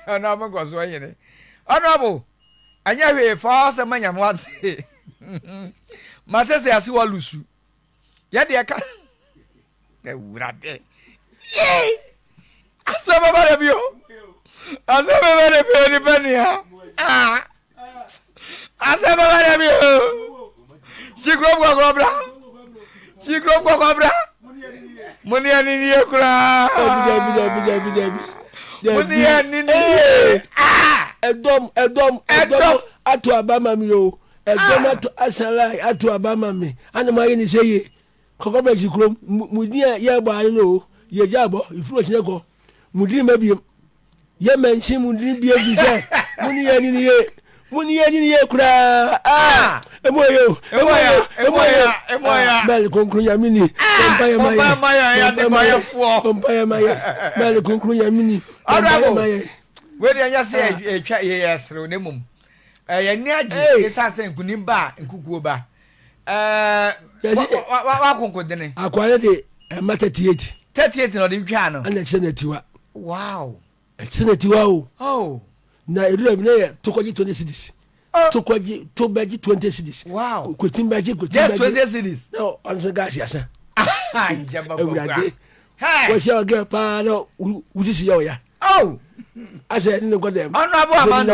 Ɔno ɔmo nkɔ so nyene. Honourable, ɛnyɛ hwee, fa w'asɛm ma Nyame w'ate. Mate se ase w'alusu. Yɛ deɛ ka. Awurade. Yee! Asɛm aba da bi o. Asɛm aba da bi o, nipa nua. Ah! asɛ bɛba dɛ bi o kyikuro kɔkɔ bra kyikuro kɔkɔ bra mo ne ɛne nie koraa mo ne ɛne nie ɛdɔm ɛdɔm ɛdɔm ato aba ma mi o ɛdɔm ah! ato asala ato aba ma mi ana mo ayɛ ne sɛ yie kɔkɔ bra kyikuro mu di a yɛ bɔ ayɛ no o yɛ gya bɔ ifuru ɔkyinɛ kɔ mu di ma biem Yɛ mɛnkye mu dini bi efi sɛ mo ni yɛ ni ni yɛ mo ni yɛ ni ni yɛ koraa aa emu ayɛ o emu ayɛ emu ayɛ emu ayɛ mɛli kunkun yɛ mi ni pɔmpa yɛ ma yɛ pɔmpa yɛ ma yɛ pɔmpa yɛ ma yɛ mɛli kunkun yɛ mi ni pɔmpa yɛ ma yɛ. wei deɛ ɛnyɛ sɛ ɛtwa yɛyɛ serew na mmom ɛyɛ ne agye ɛsiane sɛ nkonim ba a nkukuo ba wakonkodene akoa no de ɛma 38 38 na ɔde ntwaa no ɛna ɛkyerɛ n'atiwa wow ɛkyerɛ n'atiwa o oh. na ɛdura bi na yɛ tokɔgye 20 cities oh. tokɔgye to bɛgye 20 cities wow kwatim bɛgye kwatim bɛgye just 20 cities na ɔno nso gaase asa awurade wɔhyɛ ɔgɛ paa na wosisi yɛ ɔya oh. asɛ ɛne ne nkɔ dɛm ɔno abo amando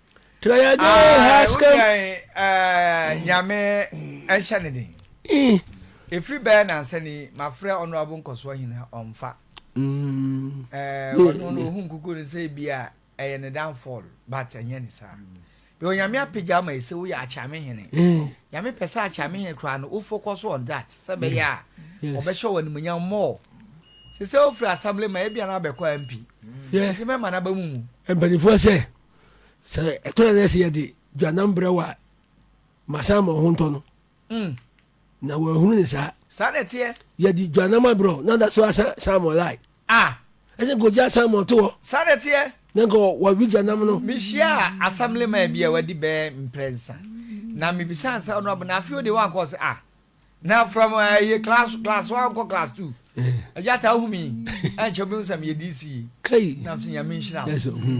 Try again, ah, Haskam. Eh, nyame ɛnhyɛ ne den. Ɛfiri eh. bɛɛ nansɛ ni mafrɛ ɔnoabo nkɔsoɔ hena ɔmfa. Mm. Eh, ɔno no ɔhu nkuku no sɛ bi a ɛyɛ ne downfall but ɛnyɛ ne saa. Bɛ onyame apagya ama ɛsɛ woyɛ akyame hene. Eh. Nyame pɛ sɛ akyame hene koraa no wo focus on that sɛ bɛyɛ a ɔbɛhyɛ wɔ animuonyam more. Sɛ sɛ wofiri assembly ma ebia no abɛkɔ ampi. Nti mɛma no aba mu mu. Mpanimfoɔ sɛ. sɛ ɛtɔ yɛ nɛsɛ yɛde dwanam brɛ wɔ a masan ma ɔho ntɔ no mm. na wɔahunu ne saa saa na ɛteɛ yɛde dwanam abrɛ na da so asa samuel lai ah. ɛsɛ nka ogya samuel to hɔ saa na ɛteɛ na nka wɔwe dwanam no mehyia assembly man bi a wadi bɛɛ mprɛnsa na mebisa ansa ɔno abɔ na afei ode wankɔ sɛ ah na from ɛyɛ eh, class class one kɔ class two ɛgya eh. ta ahumi ɛnkyɛ obi nsɛm yɛ dc yi na nso nyame nhyira hmm.